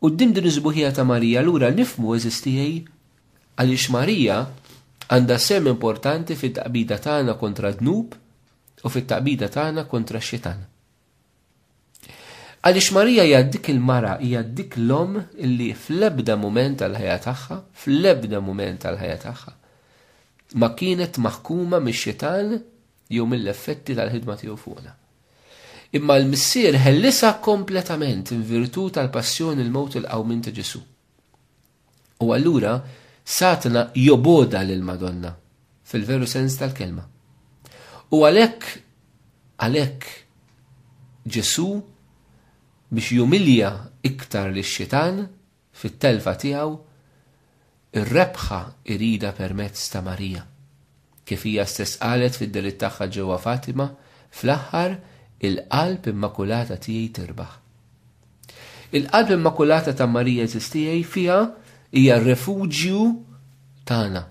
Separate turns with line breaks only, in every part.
Quddiem din is-sbuħija ta' Marija allura nifhmu, għeżież tiegħi, għaliex Marija għandha sehem importanti fit-taqbida tagħna kontra d-dnub u fit-taqbida tagħna kontra x-Xitan. Għaliex Marija hija dik il-mara, hija dik l-omm li fl-ebda mument tal-ħajja tagħha, fl-ebda mument tal-ħajja tagħha, ma kienet maħkuma mix-xitan jew mill-effetti tal-ħidma tiegħu fuqna. Imma l-Missier ħellisha kompletament in virtu tal-passjoni l-mewt il-qawmien ta' Ġesu. U allura Satna joboda lil Madonna fil-veru sens tal-kelma. U għalhekk għalhekk Ġesu biex jumilja iktar lix-xitan Fit-telfa tiegħu, ir-rebħa jridha permezz ta' Marija. Kif hija stess qalet fid-delitt tagħha ġewwa Fatima, fl-aħħar il-Qalb Immakulata tiegħi tirbaħ. Il-Qalb Immakulata ta' Marija għeżież tiegħi fiha hija r-refuġju tagħna.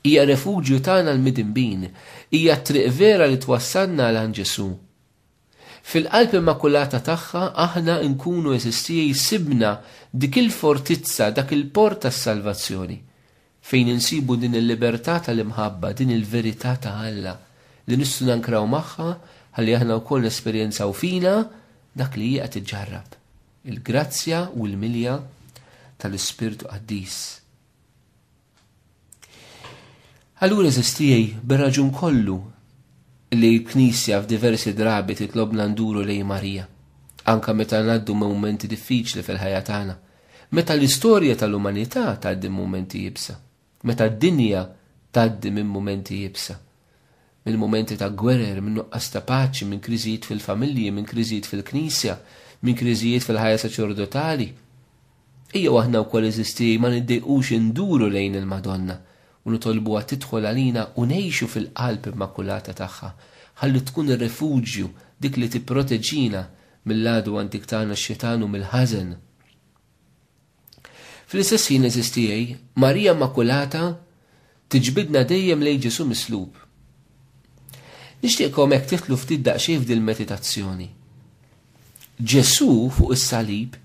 Hija refuġju tagħna l-midinbin, hija t-triq vera li twassalna għal għand Ġesù. Fil-Qalb Immakulata tagħha aħna nkunu, għeżież tiegħi, sibna dik il-fortizza, dak il-port tas-salvazzjoni, fejn insibu din il-libertà tal-imħabba, din il-verità ta' Alla li nistgħu nankraw magħha ħalli aħna wkoll nesperjenzaw fina dak li hi qed iġġarrab, il-grazzja u l-milja tal-Ispirtu Qaddis. Allura eżistijaj bir-raġun kollu li l-Knisja f'diversi drabi titlobna nduru lej Marija, anka meta ngħaddu momenti diffiċli fil-ħajja tagħna, meta l-istorja tal-umanità tgħaddi momenti jibsa, meta d-dinja tgħaddi minn momenti jibsa. minn mumenti ta' gwerer, minn nuqqas ta' paċi, minn kriżijiet fil-familji, minn kriżijiet fil-Knisja, minn kriżijiet fil-ħajja saċerdotali. Ejjew aħna wkoll eżisti ma niddejqux induru lejn il-Madonna u nitolbuha tidħol għalina u ngħixu fil-Qalb Immakulata tagħha, ħalli tkun ir-rifuġju, dik li tipproteġina mill-għadu antik tagħna x-Xitan u mill-ħażen. Fl-istess ħin għeżież tiegħi, Marija Immakulata tiġbidna dejjem lejn Ġesù mislub. Nixtieqkom hekk tidħlu ftit daqsxejn f'dil meditazzjoni. Ġesù fuq is-salib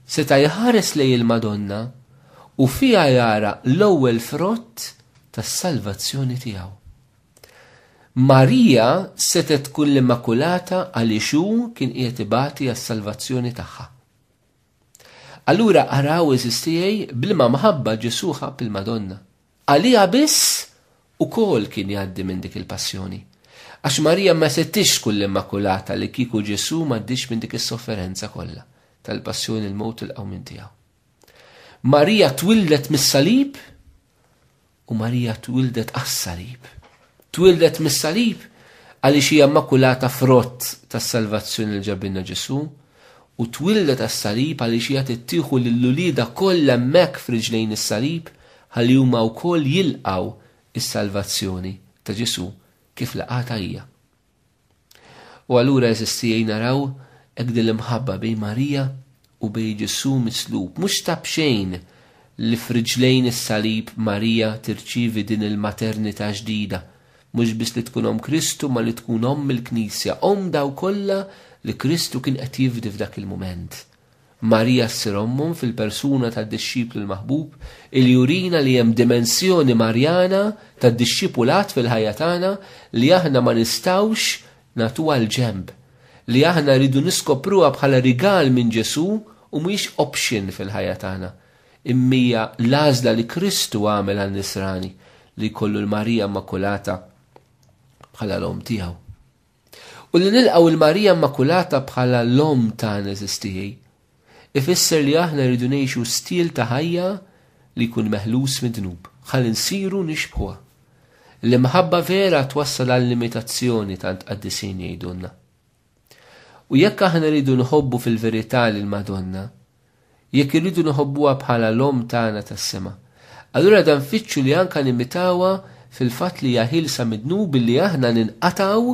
seta' jħares lejn il-Madonna u fiha jara l-ewwel frott tas-salvazzjoni tiegħu. Marija setgħet tkun l-Immakulata għaliex hu kien qiegħed ibati għas-salvazzjoni tagħha. Allura araw għeżiż tiegħi b'liema mħabba Ġesù ħabb il-Madonna. Għaliha biss ukoll kien jgħaddi minn dik il-passjoni. Għax Marija ma setgħitx tkun l-Immakulata li kieku Ġesù m'għaddiex minn dik is-sofferenza kollha tal-passjoni il-mewt il-qawmien tiegħu. Marija twildet mis-salib U Marija twieldet għas-salib. Twieldet mis-salib għaliex hija makulata frott tas-salvazzjoni li ġabilna Ġesù, u twieldet għas-salib għaliex hija tittieħu lil uliedha kollha hemmhekk f'riġlejn is-salib ħalli huma wkoll jilqgħu s-salvazzjoni ta' Ġesù kif laqgħatha hija. U allura għeżież tiegħi naraw hekk din l-imħabba bejn Marija u bejn Ġesù mislub. Mhux ta' b'xejn li f'riġlejn is-salib Marija tirċievi din il-maternità ġdida, mhux biss li tkun Omm Kristu ma li tkun Omm il-Knisja, Omm dawk kollha li Kristu kien qed jifdi f'dak il-mument. Marija s-Sirommum fil-persuna tad-dixxiplu l-maħbub, li jurina li hemm dimensjoni Marjana tad-dixxipulat fil-ħajja tagħna li aħna ma nistgħux nagħtuha l-ġenb, li aħna rridu niskopruha bħala rigal minn Ġesù u mhijiex option fil-ħajja tagħna, imm'hija l-għażla li Kristu għamel għan-nisrani li jkollu l-Marija Immakulata bħala l-Omm tiegħu. U li nilqgħu 'l Marija Immakulata bħala l-Omm tagħna għeżież tiegħi, ifisser li aħna rridu ngħixu stil ta' ħajja li jkun meħlus mid-dnub, ħalli nsiru nixbħuha. L-imħabba vera twassal għall-imitazzjoni tant qaddisin jgħidulna. U jekk aħna rridu nħobbu fil-verità lill-Madonna, Jekk irridu nħobbuha bħala l-Omm tagħna tas-sema, allura da nfittxu li anka nimitawha fil-fatt li hija ħielsa mid-dnub billi aħna ninqatgħu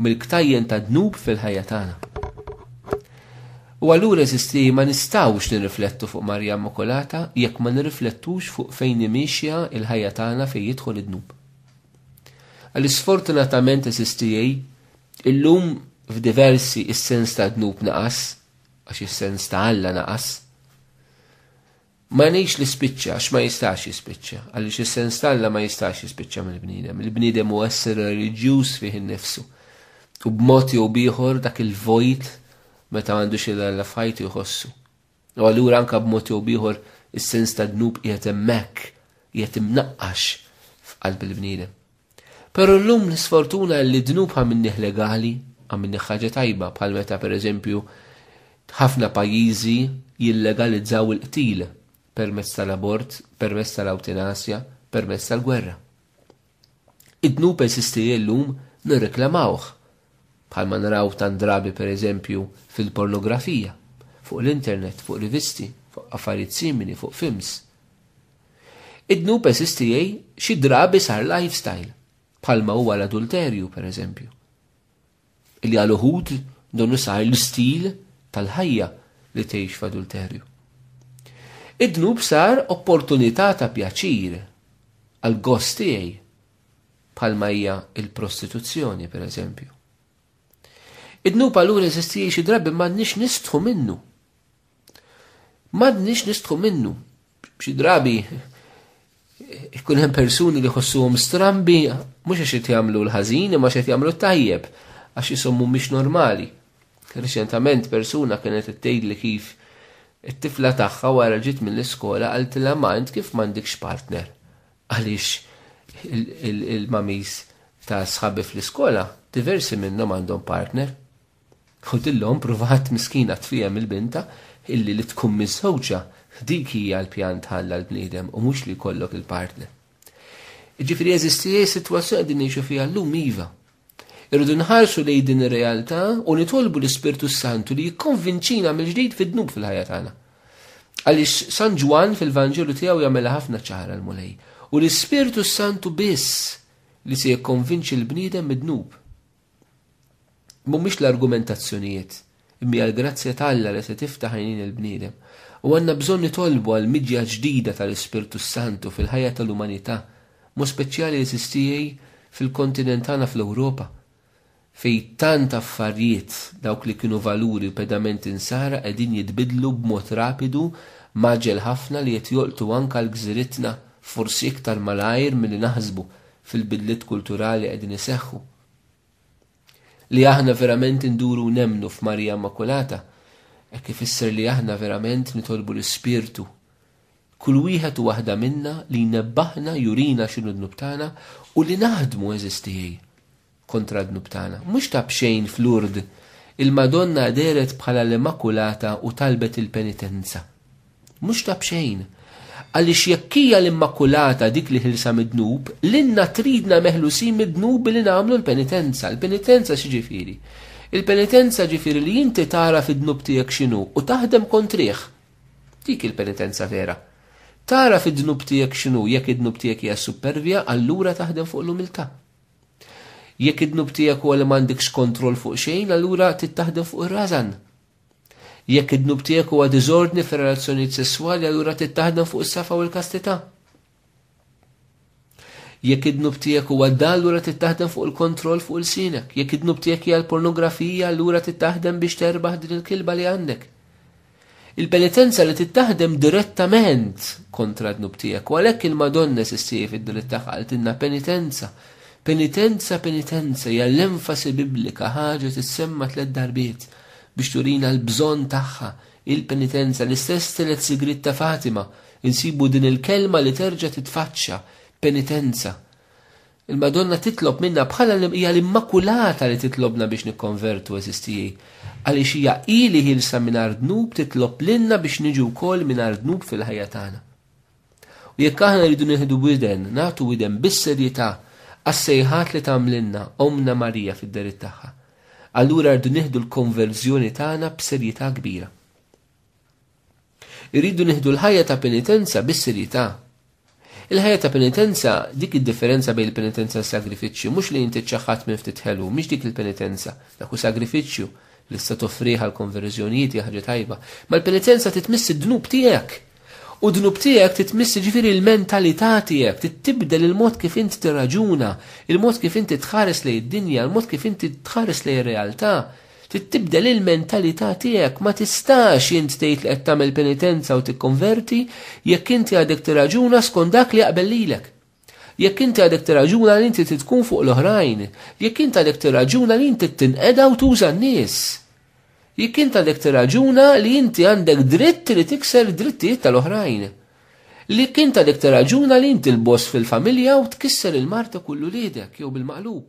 mill-ktajjen tad-dnub fil-ħajja tagħna. U allura eżisti ma nistgħux nirriflettu fuq Marija Immakulata jekk ma nirriflettux fuq fejn hi miexja l-ħajja tagħna fejn jidħol id-dnub. Għaliex sfortunatament eżisti illum f'diversi is-sens tad-dnub naqas għax is-sens ta' Alla naqas. Ma ngħidx li spiċċa għax ma jistax jispiċċa, għaliex is-sens ta' Alla ma jistax jispiċċa mill-bniedem. Il-bniedem huwa essere reliġjuż fih innifsu. U b'mod jew bieħor dak il-vojt meta għandu xi Alla f'ħajtu jħossu. U allura anka b'mod jew bieħor is-sens ta' dnub qiegħed hemmhekk, qiegħed imnaqqax f'qalb il-bniedem. Però llum l-isfortuna hi li dnub ha minnih legali, ha minnih ħaġa tajba, bħal meta, per eżempju, ħafna pajjiżi jillegalizzaw il-qtil permezz tal-abort, permezz tal-awtinasja, permezz tal-gwerra. Id-dnub eżisti li llum nirreklamawh, bħalma naraw tant drabi per eżempju fil-pornografija, fuq l-internet, fuq rivisti, fuq affarijiet simili, fuq films. Id-dnub eżistijie xi drabi sar lifestyle, bħalma huwa l-adulterju, per eżempju. Illi għal uħud donu sar l-istil tal-ħajja li tgħix f'adulterju. Id-dnub sar opportunità ta' pjaċir għal gost tiegħi, bħalma hija il-prostituzzjoni, per eżempju. Id-dnub allura eżistijie xi drabi m'għandniex nistħu minnu. M'għandniex nistħu minnu. Xi drabi ikun hemm persuni li ħossuhom strambi mhux għax qed jagħmlu l-ħażin imma qed jagħmlu tajjeb għax jisommu mhix normali. Reċentament persuna kienet qed tgħidli kif it-tifla tagħha wara ġiet mill-iskola qaltilha ma int kif m'għandikx partner għaliex il-mamis ta' sħabi fl-iskola diversi minnhom għandhom partner. Ħudilhom pruvat miskina tfiehem il-bintha illi li tkun miżżewġa dik hija l-pjan t'Alla l-bniedem u mhux li jkollok il-partner. Jiġifieri jeżisti sitwazzjoni qegħdin ngħixu fiha llum iva. Irridu nħarsu lejn din ir-realtà u nitolbu l-Ispirtu s-Santu li jikkonvinċina mill-ġdid fid-dnub fil-ħajja tagħna. Għaliex San Ġwann fil-Vanġelu tiegħu jagħmilha ħafna ċara l-Mulej. U l-Ispirtu s-Santu biss li se jikkonvinċi l-bniedem mid-dnub. Mhumiex l-argumentazzjonijiet, imma hija l-grazzja ta' Alla li se tiftaħ għajnejn il-bniedem. U għandna bżonn nitolbu għal miġja ġdida tal-Ispirtu s-Santu fil-ħajja tal-umanità, b'mod speċjali eżiżtijie fil-kontinent tagħna fl-Ewropa, fejn tant affarjiet, dawk li kienu valuri u pedamenti nsara qegħdin jitbiddlu b'mod rapidu, mgħaġġel ħafna li qed jolqtu anke għal gżiritna, forsi iktar malajr milli naħsbu, fil-bidliet kulturali li qegħdin iseħħu. Li aħna verament induru u nemmnu f'Marija Immakulata hekk ifisser li aħna verament nitolbu l-Ispirtu kull wieħed u waħda minna li jnebbaħna jurina x'inhu dnub tagħna u li naħdmu eżistijiej. kontra d-dnub tagħna. Mhux ta' b'xejn f'Lourdes il-Madonna dehret bħala l-Immakulata u talbet il-penitenza. Mhux ta' b'xejn. Għaliex jekk hija l-Immakulata dik li ħilsa mid-dnub, lilna tridna meħlusin mid-dnub billi nagħmlu l-penitenza. Il-penitenza x'ġifieri? Il-penitenza ġifieri li inti tara fid-dnub tiegħek x'inhu u taħdem kontrih. Dik il-penitenza vera. Tara fid-dnub tiegħek x'inhu jekk id-dnub tiegħek hija supervja, allura taħdem fuq l-umiltà. Jekk id-dnub tiegħek huwa li m'għandekx kontroll fuq xejn, allura trid taħdem fuq ir-rażan. Jekk id-dnub tiegħek huwa diżordni fir-relazzjonijiet sesswali, allura trid taħdem fuq is-safa u l-kastità. Jekk id-dnub tiegħek huwa dal, allura trid taħdem fuq il-kontroll fuq il-sinek. Jekk id-dnub tiegħek hija l-pornografija, allura trid taħdem biex terbaħ din il-kilba li għandek. Il-penitenza li trid taħdem direttament kontra d-dnub tiegħek u għalhekk il-Madonna sissieħi fid-diliet tagħha qaltilna penitenza, penitenza, penitenza hija l-enfasi biblika ħaġa tissemma tliet darbiet biex turina l-bżonn tagħha il-penitenza l-istess tielet sigriet ta' Fatima insibu din il-kelma li terġa' titfaċċa penitenza. Il-Madonna titlob minna bħala li hija l-Immakulata li titlobna biex nikkonvertu, għeżież tiegħi, għaliex hija hi li ħielsa mingħajr dnub titlob lilna biex niġu wkoll mingħajr dnub fil-ħajja tagħna. U jekk aħna rridu nieħdu widen, nagħtu widen bis-serjetà għas-sejħat li tagħmlilna Ommna Marija fid-dehriet tagħha, allura rridu nieħdu l-konverżjoni tagħna b'serjetà kbira. Irridu nieħdu l-ħajja ta' penitenza bis-serjetà. Il-ħajja ta' penitenza, dik id-differenza bejn il-penitenza u s-sagrifiċċju, mhux li inti ċċaħħat minn ftit ħelu, mhix dik il-penitenza, dak hu sagrifiċċju li se toffrih għal konverżjonijiet hija ħaġa tajba. Ma l-penitenza titmiss id-dnub tiegħek. U dnub tiegħek titmiss ġifieri l-mentalità tiegħek, tibdel il-mod kif inti tirraġuna, il-mod kif inti tħares lejn id-dinja, il-mod kif inti tħares lejn ir-realtà, Trid tibdel il-mentalità tiegħek, ma tistax int tgħid li qed tagħmel penitenza u tikkonverti jekk inti għadek tirraġuna skont dak li jaqbel lilek. Jekk inti għadek tirraġuna li inti trid tkun fuq l-oħrajn, jekk int għadek tirraġuna li inti tinqeda u tuża n-nies. Jekk int għadek tirraġuna li inti għandek dritt li tikser drittijiet tal-oħrajn. Li kint għadek tirraġuna li inti l-boss fil-familja u tkisser il-marta kullu lidek jew bil-maqlub.